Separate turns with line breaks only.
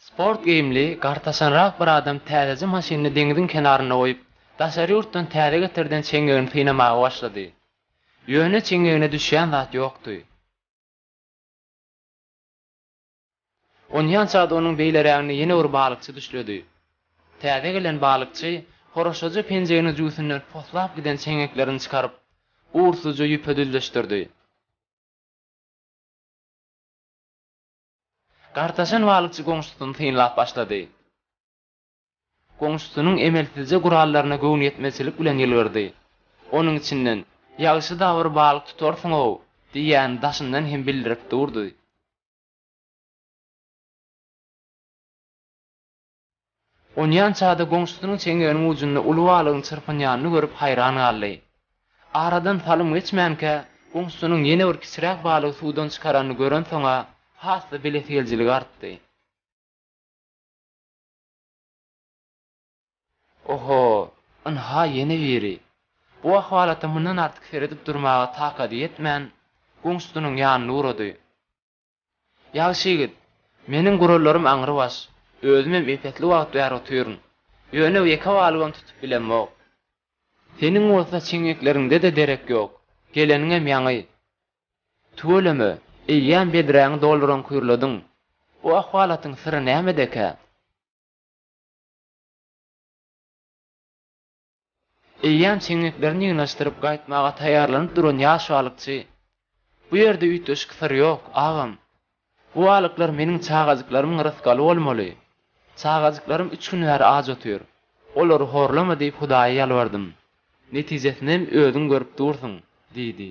Sport geýimli, gartaşanrak bir adam täzeje maşynyny deňziň kenarynda goýup, daşary ýurtdan täze getirden çeňňegini synamaga başlady. Ýöne çeňňegine düşýän zat ýokdy. Onýança-da onuň beýleräginde ýene bir balykçy düşledi. Täze gelen balykçy horaşaja penjeginiň jübüsinden poslap giden çeňňeklerini çykaryp, ursuzja ýüpe düzleşdirdi. Gartaşan balykçy goňşusyny synlap başlady. Goňşusynyň emelsizje gurallaryna göwnüýetmezçilik bilen ýylgyrdy. Onuň içinden, Ýagşy-da bir balyk tutarsyň-ow! diýýäni daşyndan hem bildirip durdy. Onýan çady goňşusynyň çeňňeginiň ujunda uly balygyň çyrpynýanyny görüp haýran galdy. Aradan salym geçmänkä, goňşusynyň ýene bir kiçiräk balygy suwdan çykaranyny görensoň-a, has-da bilesigeljiligi artdy. Oho, ynha ýene biri! Bu ahwalata mundan artyk seredip durmaga takady ýetmän, goňşusynyň ýanyna ugrady. Ýagşy ýigit, meniň gurallarym aňrybaş, özümem epesli wagt bäri otyryn. Ýöne ýeke balybam tutup bilemok. Seniň bolsa çeňňekleriňde-de derek ýok, geleniňem ýaňy. Tüweleme, eýýäm bedräňi dolduran kürlediň. Bu ahwalatyň syry nämedekä? Eýýäm çeňňeklerini ýygnashdyryp gaýtmaga taýýarlanyp duran ýash balykçy, Bu ýerde üýtgeşik syr ýok, agam. Bu balyklar meniň çagajyklarymyň rysgaly bolmaly. Çagajyklarym üç gün bäri aç otyr. Olary horlama diýip hudaýa ýalbardym. Netijesinem özüň görüp dursuň, diýdi.